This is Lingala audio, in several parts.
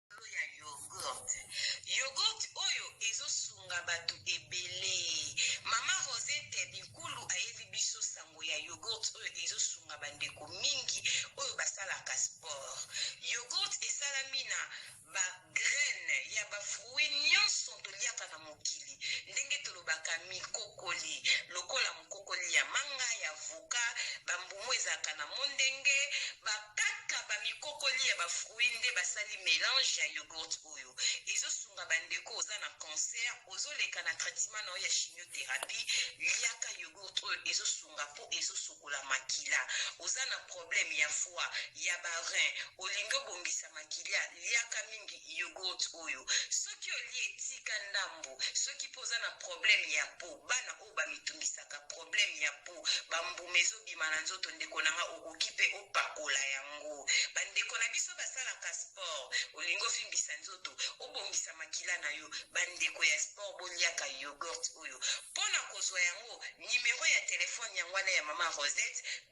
likolo ya yogurt yogurt oyo ezo sunga batu ebelee maman rosette binkulu ayeli biso sango ya yogurt oyo ezo sunga ba ndeko mingi oyo ba salaka sport yogurt esalami na ba graines ya ba fruits nionso to liaka na mokili ndenge tolobaka mikokoli lokola mokokoli ya manga ya voka bambumu ezalaka na mondenge bakaka bamikokoli ya bafruit nde basali melange ya yogurt oyo ezosunga bandeko oza na cancer ozoleka na traitement na yo ya chimiothérapie liaka yogurt oyo ezosunga mpo ezosokola makila oza na problème ya foi ya barin olingi obongisa makila liaka mingi Yoghurt oyo soki olie tika ndambu soki pe oza na problème ya peau bana oyo bamitungisaka problème ya peau ba mbuma ezo bima na nzoto ndeko na nga okoki pe opakola yango ba ndeko na biso basalaka sport olingi ovimbisa nzoto obongisa makila na yo ba ndeko ya sport boliaka yoghurt oyo pona kozwa yango numero ya telephone yango wana ya maman Rosette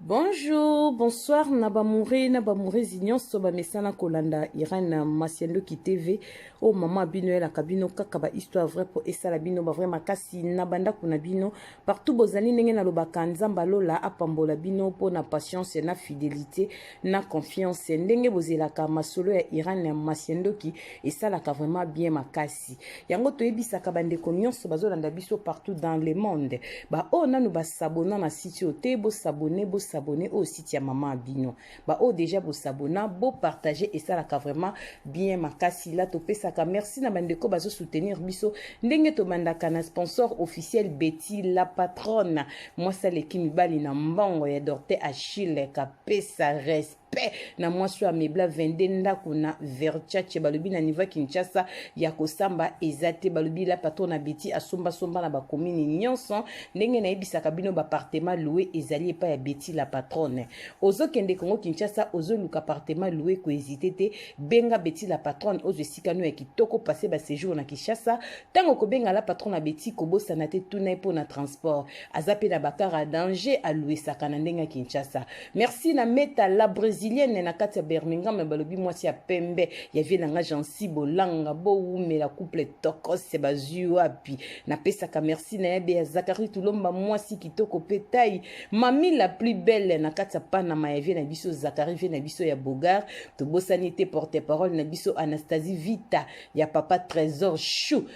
Bonjour, bonsoir na bamoure na bamourezi nyonso bamesana kolanda Irène Masiandoki TV oyo oh, mama bino elaka bino kaka ba histoire vrai mpo esala bino ba vrai makasi na bandako na bino partout bozali ndenge nalobaka nzambe alola apambola bino mpo na patience na fidelité na confiance ndenge bozelaka masolo ya iran ya masiendoki esalaka vraiment bien makasi yango toyebisaka bandeko nyonso bazolanda biso partout dans le monde baoyo oh, nanu basabona na site oyo te bosabone bosabone oyo oh, site ya mama bino baoyo oh, deja bosabona bopartage esalaka vraiment bien makasi la topesaka merci na bandeko bazosoutenir biso ndenge tobandaka na sponsor officiel betty la patronne mwasi aleki mibali na mbongo ya dorte achille pesa respect na mwasi oyo amebla 22 ndako na verchace balobi na niveau ya kinshasa ya kosamba eza te balobi la patron na beti asombasomba na bakomini nyonso ndenge nayebisaka bino bapartema loue ezali epai ya beti la patronne ozokende kongo kinshasa ozoluka apartema loue koezite te benga beti la patronne ozo esika no ya kitoko passe basejour na kinshasa ntango kobenga la patron na beti kobosana te tuna ye mpo na transport aza pe na ba car a danger a louisaka na ndenge ya Kinshasa merci na meta la brésilienne na kati ya Birmingham balobi mwasi ya pembe ya vie na nga Jancy Bolanga bo wumela couple tokos bazui wapi na pesaka merci na yabe ya Zachary Tulomba mwasi kitoko pe tai mami la plus belle na kati ya Panama ya vie na biso Zachary vie na biso ya Bogar tobosani te porte parole na biso Anastasie Vita ya papa Trésor Chou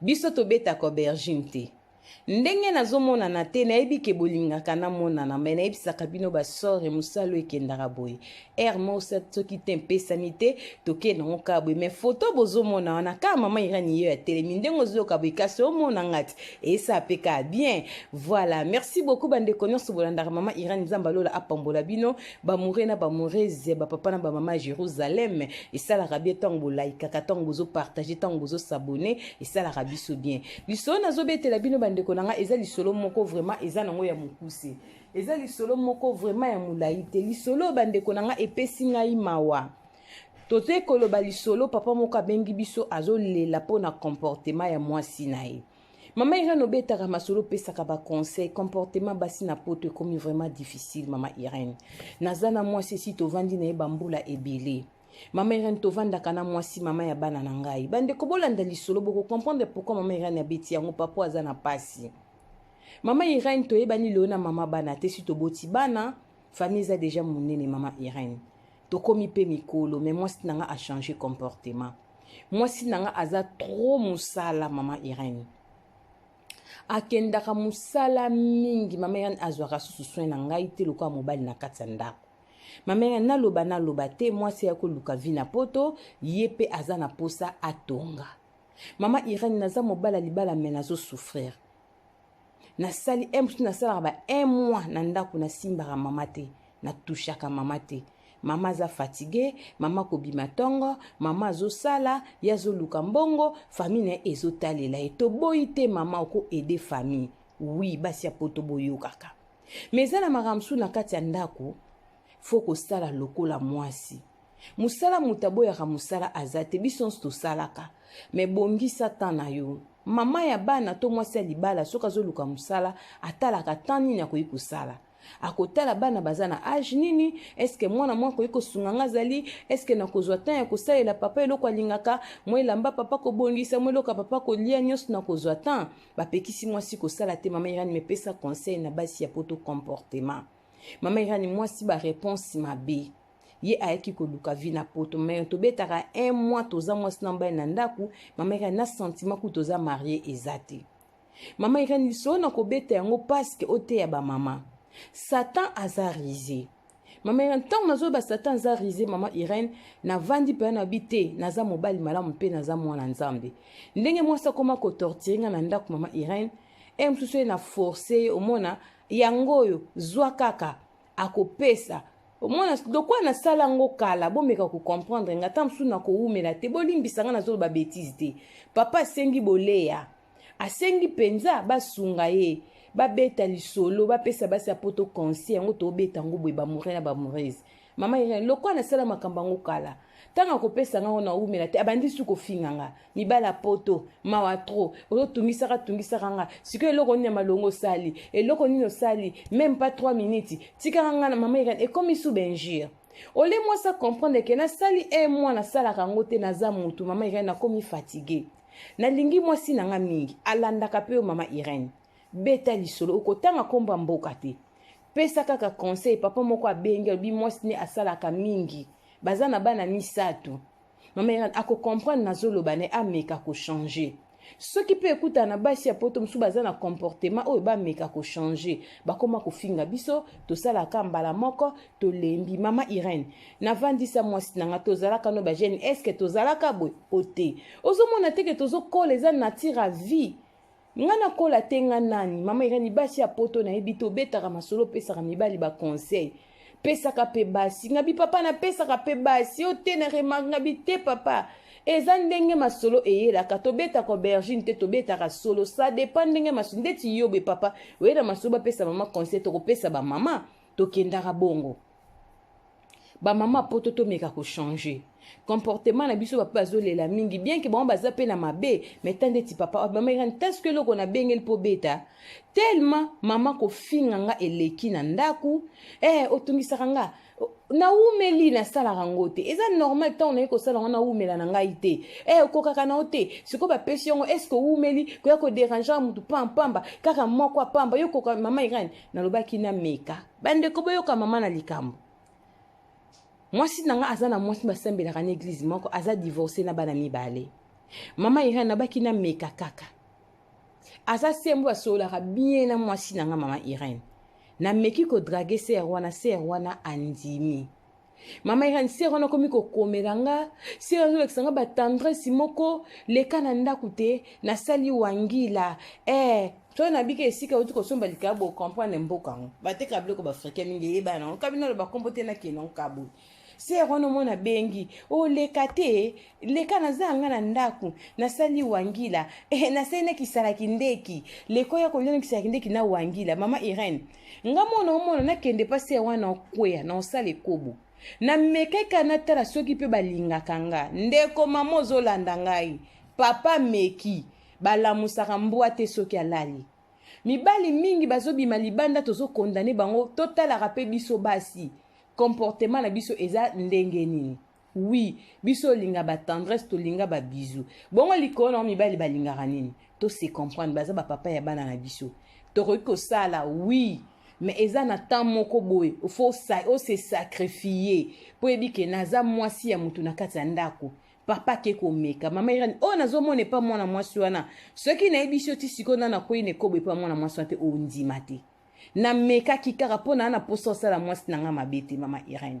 Biso tobetaka aubergine te. Ndenge nazomonana te nayebi ke bolingaka namonana me nayebisaka bino basore mosalo ekendaka boye aire mosa soki te mpesami te tokenda yango kaka boye me foto bozomona wana kaka mama irani yeyo atelemi ndenge ozoyoka boye kasi omona ngati esa mpe kaka bien voilà merci beaucoup bandeko nyonso bolandaka mama irani nzambe alola apambola bino bamoure na bamourese bapapa na bamama ya jérusalem esalaka bien ntango bolaikaka ntango bozopartage ntango bozosabone esalaka biso bien lisolo nazobetela bino bandeko na ngai eza lisolo moko vraiment eza nango ya mokuse eza lisolo moko vraiment ya molai te lisolo bandeko na ngai epesi ngai mawa totoye koloba lisolo papa moko abengi biso azolela mpo na comportement ya mwasi na ye Mama Irène obetaka masolo opesaka ba conseil comportement basi na poto ekomi vraiment difficile mama Irène naza na mwasi esi tovandi na ye bambula ebele mama Irène tovandaka na mwasi mama ya bana na ngai bandeko bolanda lisolo boko comprendre pourquoi mama Irène abeti yango papo aza na pasi mama Irène toyebani lelo na mama bana te si toboti bana famille eza deja monene mama Irène tokomi mpe mikolo mais mwasi na ngai achange comportement mwasi na nga aza trop mosala mama irene akendaka mosala mingi mama irene azwaka susu soin na ngai te lokola mobali na kati ya ndako mama irene naloba naloba te mwasi ya koluka vi na poto ye mpe aza na mposa atonga mama irene naza mobala libala me nazosouffrir nasali un mosusu nasalaka ba un mois na ndako nasimbaka mama te natushaka mama te mama aza fatigue mama kobima ntongo mama azosala ye azoluka mbongo famille na ye ezotalela ye toboyi te mama oko aide famille wi basi ya poto boyokaka me eza na makambo mosusu na kati ya ndako fo kosala lokola mwasi Musala mutu aboyaka musala aza te biso nionso tosalaka me bongisa temps na yo mama ya bana to mwasi ya libala soki azoluka musala atalaka temps nini akoki kosala akotala bana baza na age nini eske mwana mwa akoki kosunga nga azali eske nakozwa temps ya kosalela papa eloko alingaka mwa elamba papa kobongisa mwa eloko ya papa kolia nyonso nakozwa temps bapekisi mwasi kosala te mama irani mepesa conseil na basi ya poto comportement mama irani mwasi bareponse mabe ye ayaki koluka vie na poto me tobetaka un mois toza mwasi na mobali na ndako mama irene na sentiment kutu toza marie eza te mama irene lisolo na kobeta yango paske oteya bamama satan aza rise mama irene ntango nazoyeba satan aza rise mama irene navandi mpena na bi te naza mobali malamu mpe naza mwana nzambe ndenge mwasi akoma kotortire ngai na ndako mama irene e mosusu ye na force ye omona yango oyo zwa kaka akopesa omona lokwa nasala yango kala bomeka kocomprendre nga ata mosusu nakowumela te bolimbisa nga nazoloba betise te papa asengi boleya asengi mpenza basunga ye babeta lisolo bapesa basi ya poto conseil yango tobeta yango boye bamoure na bamourese mama irene lokwa nasala makambo yango kala ntango akopesa nga ngo nawumela te abandi su kofinga nga mibali ya poto mawa tro ozotungisaka tungisaka nga sikoyo eloko nini ya malongo osali eloko nini osali meme pas 3 minutes tikaka nga na mama ekani ekomi sous benjure ole mwasi acomprendre ke nasali e mwa nasalaka yango te naza motu mama irene nakomi fatigue nalingi mwasi na nga mingi alandaka mpe yo mama irene beta lisolo okotanga nkombo ya mboka te pesa kaka conseil papa moko abengi alobi mwasi ne asalaka mingi baza na bana misato mama irene akocomprendre nazoloba ne ameka kochange soki mpe ekutana na basi ya poto mosusu baza na comportement oyo bameka kochange bakoma kofinga biso tosalaka mbala moko tolembi mama irene navandisa mwasi na nga tozalaka no bagene eske tozalaka boye o te ozomona teke tozokola eza natire ya vie nga nakola te nga nani mama irene basi ya poto nayebi te obetaka masolo opesaka mibali baconseil pesaka mpe basi nga bipapa napesaka mpe basi yo te na remarke nga bite papa eza ndenge masolo eyelaka tobetaka aubergine te tobetaka solo sa dépend ndenge masolo ndeti yobe papa oyela masolo bapesa mama conseil tokopesa bamama tokendaka bongo bamama poto tomeka kochange comportement na biso bapa bazolela mingi bien ke bango baza mpe na mabe mais ta ndeti papa bamekani taske eloko nabengeli mpo beta telema mama kofinga nga eleki na ndako ee eh, otungisaka nga nawumeli nasalaka yango te eza normal ntango naye kosala yango nawumela na ngai te e eh, okokaka na yo te sikoyo bapesi yango eske owumeli koya koderange ya motu pampamba kaka moko apamba yo okoka mama irene nalobaki nameka Bandeko boyoka mama na likambo. Mwasi na nga aza na mwasi basambelaka na eglise moko aza divorce na bana mibale. Mama Irène nabaki na meka kaka. Aza sembo asololaka bien na mwasi na nga mama Irène. Nameki ko drague sœur wana sœur wana andimi. mama irani sere wana akomi kokomela nga sere azolakisa nga batendresse moko leka na ndako te nasali wangila eh soki nabiki esika outi kosomba likaya bocomprendre mboka yango bateka biloko baafrika mingi eyeba yango kabino aloba kombo te nakende yango kaboyi sere wana omona bengi oleka oh, te leka naza yanga na ndako nasali wangila eh, nasali na kisalaki ndeki leko ya kolia na kisalaki ndeki na wangila mama irene nga moko naomona nakende mpa se wana okwea na osala ekobo namekaka natala soki mpe balingaka nga ndeko mama ozolanda ngai papa meki balamusaka mbwa te soki alali mibali mingi bazobima libanda tozokondane bango totalaka mpe biso basi comportement na biso eza ndenge nini Oui, biso linga ba tendresse, to linga ba bisous. Bongo likolo na mibali balingaka nini? To se comprendre, baza ba papa ya bana na biso. Tokoki kosala, oui, mais eza na temps moko boye, faut sa, o se sacrifier. Po yebi ke naza mwasi ya mutu na kati ya ndako. Papa ke komeka, mama Irene, oh nazomona epa mwana mwasi wana. Soki nayebisi yo ti sikoyo nana akwei na ekobo epa mwana mwasi wana te, ondima te. Namekaki kaka po naa na posa osala mwasi na nga mabe te, mama Irene.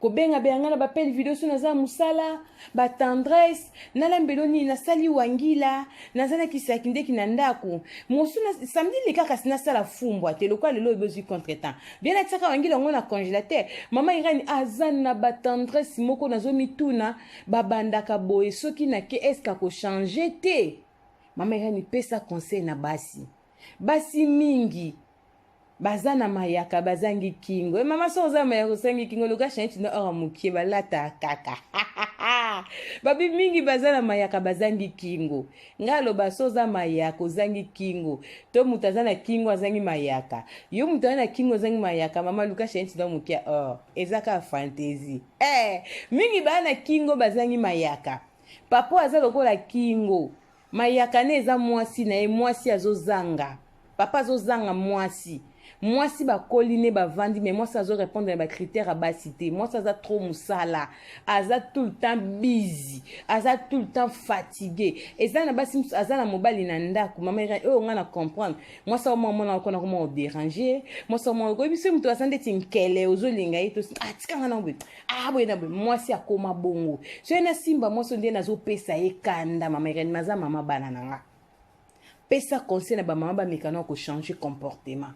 kobenga beyanga na bapele video so naza mosala batendresse nalambelo nini nasali wangila naza na kisaki ndeki na ndako mosu samedi leka kasi nasala fumbwa te lokola lelo oyebi ozwi contre temps bien natiaka wangila yango na congélateur mama irani aza na batendresse moko nazomituna babandaka boye soki nake eske akochange te mama irani pesa conseil na basi basi mingi baza na mayaka bazangi kingo e mama so oza mayaka osangi kingo luka change na ora mokie balata kaka babi mingi baza na mayaka bazangi kingo ngai aloba so oza mayaka ozangi kingo to moto aza na kingo azangi mayaka yo moto aza na kingo ozangi mayaka mama luka change na mokie or eza kaka fantaisie eh mingi baa na kingo bazangi mayaka papa aza lokola kingo Mayakane eza mwasi na ye mwasi azozanga papa azozanga mwasi mwasi bakoli ne bavandi mais mwasi azo répondre na ba critère ya basi te mwasi aza trop mosala aza tout le temps busy aza tout le temps fatigue eza na basi mosusu aza na mobali na ndako mama irene oyo ngai na comprendre mwasi aoma omona okona koma oderange mwasi aoma oyebi se moto aza ndeti nkele ozolinga ye to atika ah, ngai nango ah boye na boye mwasi akoma bongo soki nasimba mwasi nde nazopesa ye kanda mama irene maza mama bana na nga pesa conseil na bamama bamekana ya kochange comportement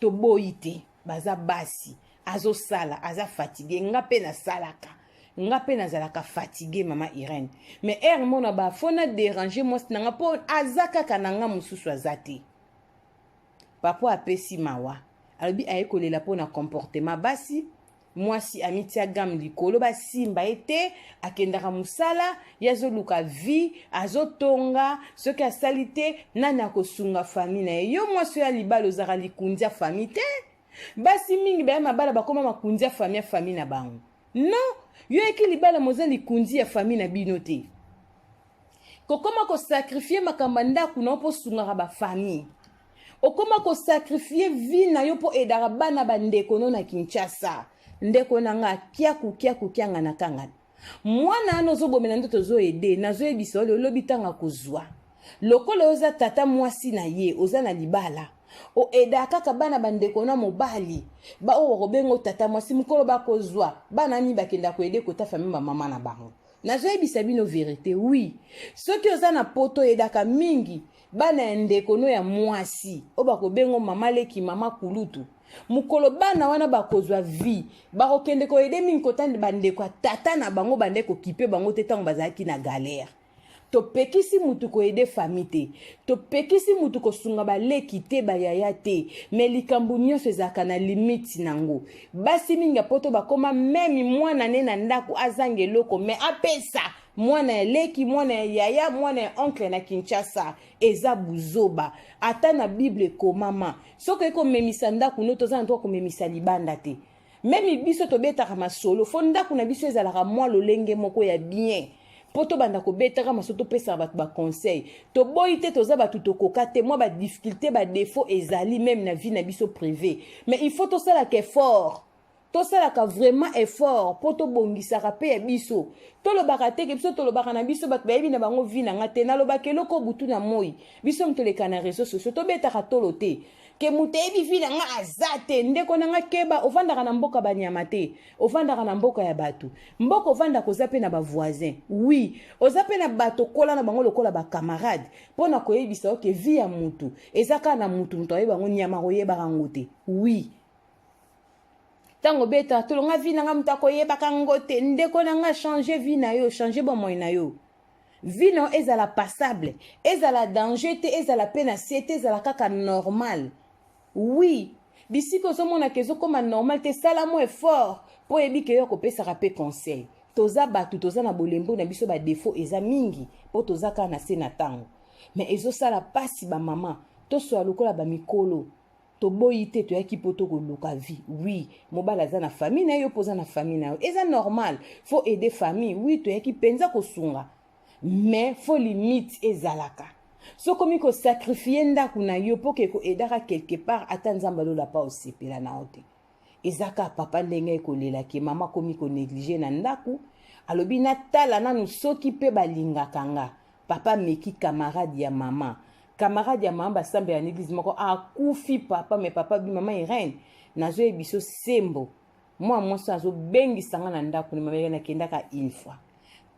toboyi te baza basi azosala aza fatigue nga mpe nasalaka nga mpe nazalaka fatigue mama irene mais ere mona ba fo na dérange mwasi na nga mpo aza kaka na nga mosusu aza te papa apesi mawa alobi aye kolela mpo na comportement basi mwasi amitia game likolo basimba ye te akendaka mosala ye azoluka vie azotonga soki asali te nani akosunga fami na ye yo mwasi oyo ya libala ozalaka likunzi ya fami te basi mingi baya mabala bakoma makunzi ya fami ya fami na bango non yo yaki libala moza likunzi ya fami na bino te kokoma kosakrifie makambo ya ndako na yo mpo osungaka bafamille okoma kosakrifie vi na yo mpo edaka bana bandeko no na kinshasa ndeko na nga kiaku kiaku kiangana kangana mwana wana ozobomela nde tozoede nazoyebisa yo lolobi ntango akozwa lokola oza tata mwasi na ye oza na libala oeda kaka bana bandeko na mobali baoyo bakobenga tata mwasi mokolo bakozwa bana nini bakenda koede kota fami bamama na bango Nazoyebisa bino verite oui soki oza na poto yedaka mingi bana ya ndeko no ya mwasi oyo bakobengo mama leki mama kulutu mokolo bana wana bakozwa vie bakokende koyede mingi kotanda bandeko ya tata na bango bande kokipe bango te ntango bazalaki na galere topekisi mutu ko aide famille te topekisi mutu kosunga baleki te bayaya te me likambo nyonso ezalaka na limite nango basi mingi ya poto bakoma meme mwana ne na ndako azanga eloko me apesa mwana ya leki mwana ya yaya mwana ya oncle na kinshasa eza buzoba ata na bible ekomama soki oyekomemisa ndako no toza na to komemisa libanda te meme biso tobetaka masolo fo ndako na biso ezalaka mwa lolenge moko ya bien mpo tobanda kobetaka masolo topesaka bato baconseil toboyi te toza bato tokoka te mwa badifficulté badefaut ezali meme na vie na biso privé mais il faut tosalaka effort tosalaka vraiment effort mpo tobongisaka mpe ya biso tolobaka te ke biso tolobaka na biso bato bayebi na bango vi na nga te nalobaka eloko butu na moi biso mitoleka na réseau sociaux tobetaka tolo te ke moto ayebi vi na nga aza te ndeko na nga keba ofandaka na mboka banyama te ofandaka na mboka ya bato mboka ofandaka oza mpe na bavoisin wi oza mpe na bato okola na bango lokola bacamarade mpo na koyebisa oke vi ya motu eza kaka na motu moto ayebi yango nyama koyebaka yango te wi ntango obeta tolonga vi na nga moto akoyebaka yango te ndeko na nga change vi na yo change bomoi na yo vie na yo ezala passable ezala danger te ezala mpe na se te ezala kaka normal oui bisika ozomonaka ezokoma normal te sala mo effort mpo oyebi ke yo akopesaka mpe conseil toza bato toza na bolembo na biso badefaut eza mingi mpo toza kaka na se na ntango me ezosala mpasi bamama toswala lokola bamikolo toboyi te toyaki mpo tokoluka vie oui mobali aza na famille na ye yo mpo oza na famille na yo eza normal faut aider famille oui toyaki mpenza kosunga mais faut limite ezalaka so okomi kosakrifie ndako na yo mpo ke koedaka quelque part ata nzambe alolapa osepela na yo te eza kaka papa ndenge aye kolela ke mama akomi koneglige na ndako alobi natala nanu soki mpe balingaka nga papa ameki camarade ya mama camarade ya mama basambela na eglise moko akufi papa me papa bi mama irene nazoyebiso sembo mwana mwasi azobengisa nga na ndako na mama irene akendaka une fois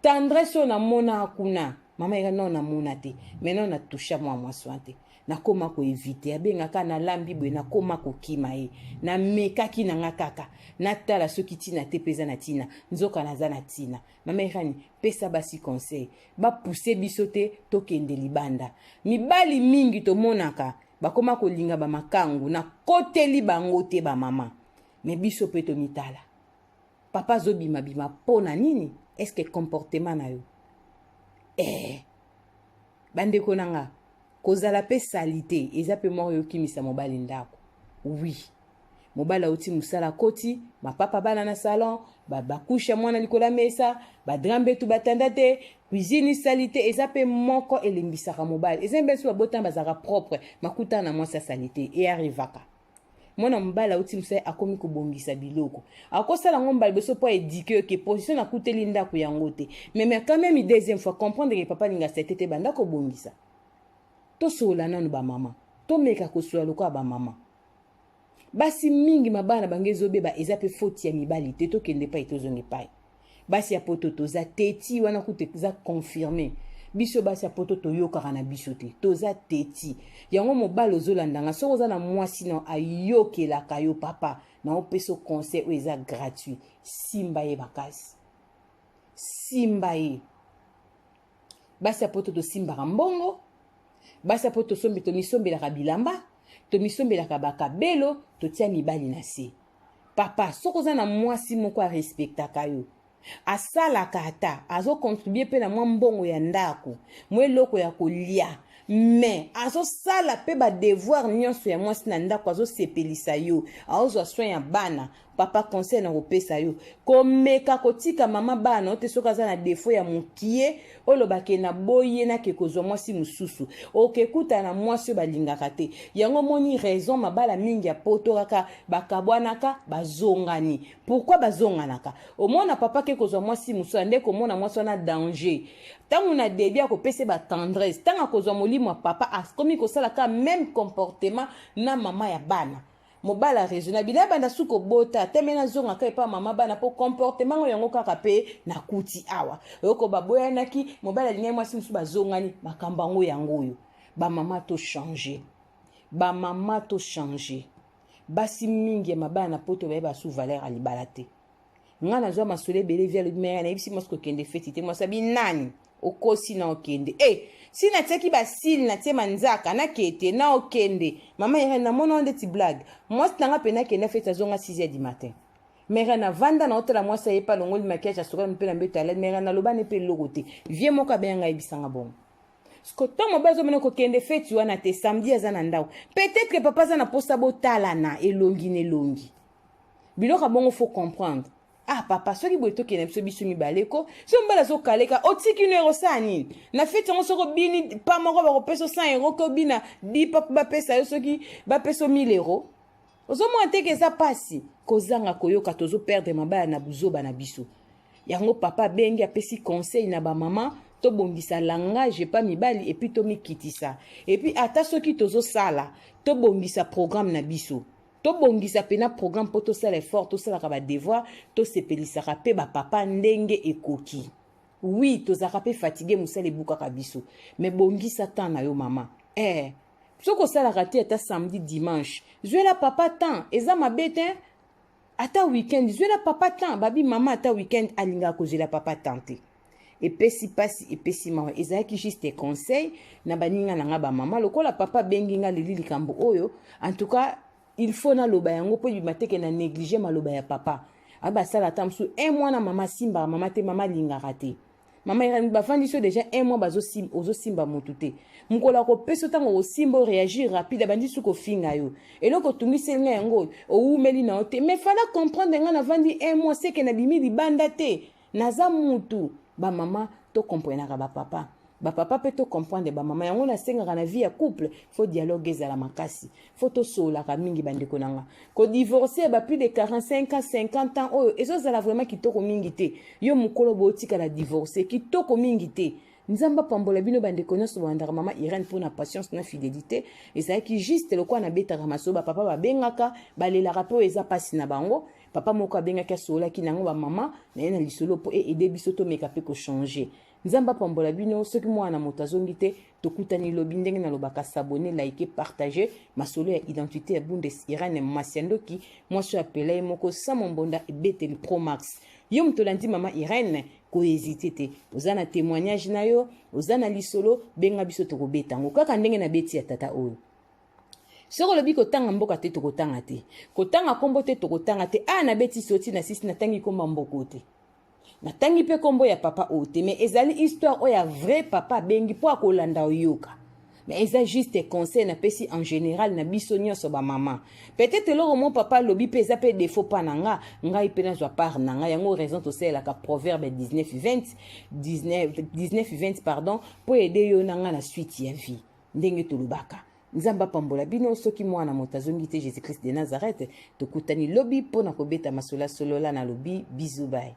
tendresse oyo namona kuna mama yeka non namona te mais non na toucha mwa mwasi wana te nakoma koevite abengaka nalambi boye nakoma kokima ye namekaki na nga kaka natala soki ntina te mpe eza na ntina nzoka naza na ntina mama irani pesa basi conseil bapuse biso te tokende libanda mibali mingi tomonaka bakoma kolinga bamakangu nakoteli bango te bamama me biso mpe tomitala Papa azo bima bima po na nini? Est-ce que comportement na yo? Eh. Bandeko na nga, kozala pe salite eza pe moko yokimisa mobali ndako. Oui. mobali auti mosala akoti mapapa bana na salon bakushe ba mwana likolo ya mesa badrame betu batanda te cuisine esali te eza mpe moko elembisaka mobali eza mpe biso babotana bazalaka propre makutana na mwasi asali te eyarivaka mwana mobali auti mosali akomi kobongisa biloko akosala yango mbala liboso mpo aedike yo ke position nakuteli ndako yango te meme quand même deuxième fois comprendre ke papa alinga sete te banda kobongisa tosolola nanu bamama tomeka kosolola lokola bamama basi mingi mabala na bango ezobeba eza mpe foti ya mibali te tokende epai tozonga epai basi ya poto toza teti wana kutu eza confirme biso basi ya poto toyokaka na biso te toza teti yango mobali ozolanda nga soki oza na mwasi na ayokelaka yo papa na opesa conseil oyo eza gratuit simba ye makasi simba ye basi ya poto tosimbaka mbongo basi ya poto tosombi tomisombelaka bilamba tomisombelaka bakabelo totia mibali na se papa soki oza na mwasi moko arespektaka yo asalaka ata azokontribue mpe na mwa mbongo ya ndako mwa eloko ya kolia me azosala mpe badevoir nyonso ya mwasi na ndako azosepelisa yo aozwa soin ya bana papa conseil na kopesa yo komeka kotika mama bana ote soki aza na defo ya mokie oloba ke na boye nake kozwa mwasi mosusu okekuta na mwasi oyo balingaka te yango omoni raison mabala mingi ya poto kaka bakabwanaka bazongani pourkui bazonganaka omona papa ke kozwa mwasi mosusu ande komona mwasi wana danger ntango na debi akopesa ye batendresse ntango akozwa molimo ya papa akomi kosala ka meme comportement na mama ya bana mobali arezo na bino abanda su kobota teme nazonga ka epa mama bana mpo comportement ngo yango kaka mpe nakuti awa oyoko baboyanaki mobali alingaki mwasi mosusu bazongani makambo yango yango oyo bamama tochange bamama tochange basi mingi ya mabala na poto baye basu valeur ya libala te nga nazwa masolo ebele vi alobi maya nayebisi mwasi kokende feti te mwasi abi nani okosi na okende e eh, si natiaki basili natie manzaka nakete na okende mama irene namona wana ndeti blague mwasi nanga mpe nakenda feti azonga 6 heures du matin mere navanda naotala mwasi aye mpe alongoli makiage asokali mpe na mbeto alali mere nalobani mpe eloko te vie moko abeya ngai yebisanga bongo siko ntango mobali azomona kokende feti wana te samedi aza na ndako peut-être papa aza na mposa botalana elongi na elongi biloko ya bongo faut comprendre ah papa soki boye tokende na biso biso mibale ko so mobali azokaleka otiki no ekosala nini na feti yango soki obini pa moko bakopesa o 100 euro ke obina dipa mpo bapesa yo soki bapesa o 1000 euro ozomona te ke eza mpasi kozanga koyoka tozoperdre mabala na buzoba na biso yango papa abengi apesi conseil na bamama tobongisa langage epa mibali epuis tomikitisa epuis ata soki tozosala tobongisa programme na biso tobongisa mpena programme mpo tosala effort tosalaka badevoir tosepelisaka mpe bapapa ndenge ekoki wi tozalaka mpe fatigue mosala ebukaka biso me bongisa temps na yo mama eh, soki osalaka te ata samedi dimanche zwela papa temps eza mabe te ata weekend zwela papa temps babi mama ata weekend alingaka kozwela papa temps te epesi mpasi epesi mawa ezalaki juste conseil na baninga na ngai bamama lokola papa abengi ngai leli likambo oyo en tout cas il faut naloba yango mpo ebima teke na néglige maloba ya papa abi basala ata mosusu un mois na mama asimbaka mama te mama alingaka te mama irani bafandi so déjà un mois ozosimba motu te mokolo akopesa ntango okosimba oreagir rapide abandi su kofinga yo eloko otungiseli ngai yango oyo owumeli na yo te mais fala comprendre ngai navandi un mois seke nabimi libanda te naza mutu ba mama to comprenaka ba papa ba papa pe to comprendre ba mama yango nasengaka na vie ya couple faut dialogue ezala makasi faut tosololaka mingi bandeko na nga kodivorce ba plus de 45 ans 50 ans oyo ezozala vraiment kitoko mingi te yo mokolo bootikala divorce kitoko mingi te nzambe apambola bino bandeko nyonso bolandaka mama irene mpo na patience na fidelité ezalaki juste lokola nabetaka masolo bapapa babengaka balelaka mpe oyo eza mpasi na bango Papa moko abengaki asololaki na yango bamama na ye na lisolo mpo eede biso tomeka mpe kochange. Nzambe apambola bino. Soki mwana na moto azongi te, tokutani lobi ndenge nalobaka sabone, like, partage. Masolo ya identite ya Bundes Irene Masiandoki, mwasi oyo apela ye moko Samo Mbonda ebeteli Pro Max. Yo moto olandi mama Irene, kohezite te oza na témoignage na yo oza na lisolo benga biso tokobeta yango kaka ndenge na beti ya tata oyo soki olobi kotanga mboka te tokotanga te kotanga nkombo te tokotanga te a ah, nabeti soti na sisi natangi nkombo ya mboko te natangi mpe nkombo ya papa oyo te mais ezali histoire oyo ya vrai papa abengi mpo akolanda oyoka mais eza juste conseil napesi en général na biso nyonso bamama peut-être eloko mo papa alobi mpe eza mpe défaut mpa na nga ngai mpe nazwa part na ngai yango raison tosalelaka proverbe 19 20 19 20 pardon mpo ede yo na ngai na suite ya vie Ndenge tolobaka. Nzambe apambola bino soki mwana moto azongi te Jesus Christ de Nazareth tokutani lobi mpo na kobeta masola solola na lobi bisous bye.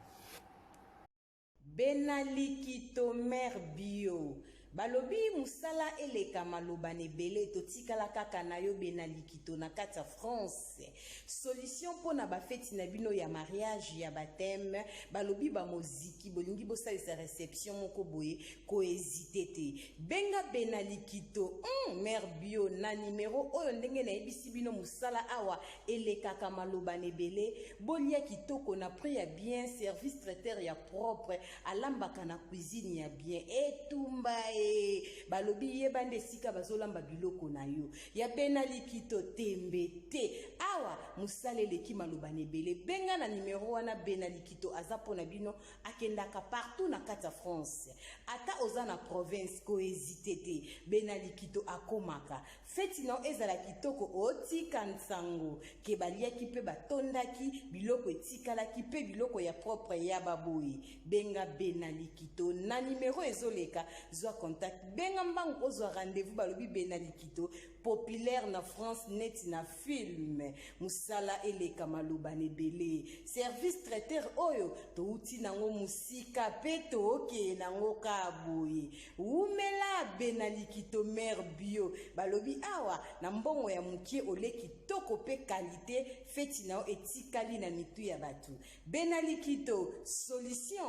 Bena likito mère bio balobi musala eleka maloba na ebele totikala kaka na yo bena likito na kati ya France. Solution pona ba feti na bino ya mariage ya bapteme balobi ba moziki bolingi bosalisa reception moko boye ko hesite te benga bena likito hum, mère bio na numero oyo ndenge nayebisi bino mosala awa elekaka maloba na ebele bolia kitoko na prix ya bien service traiteur ya propre alambaka na cuisine ya bien etumba e balobi yeba nde esika bazolamba biloko na yo ya bena likito tembe te awa mosala eleki maloba na ebele benga na nimero wana bena likito aza mpo na bino akendaka partout na kati ya france ata oza na province koezite te bena likito akomaka feti na ezala kitoko otika nsango ke baliaki mpe batondaki biloko etikalaki mpe biloko ya propre ya baboyi benga benalikito na nimero ezoleka zwa contact benga mbangu ozwa rendez-vous balobi benalikito populaire na france neti na film mosala eleka maloba na ebele service traiteur oyo touti nango mosika mpe tookeye nango kaa boye wumela benalikito mare bio balobi awa na mbongo ya mokie ole kitoko mpe kalite Feti na yo etikali na mitu ya batu. Bena Likito, solution!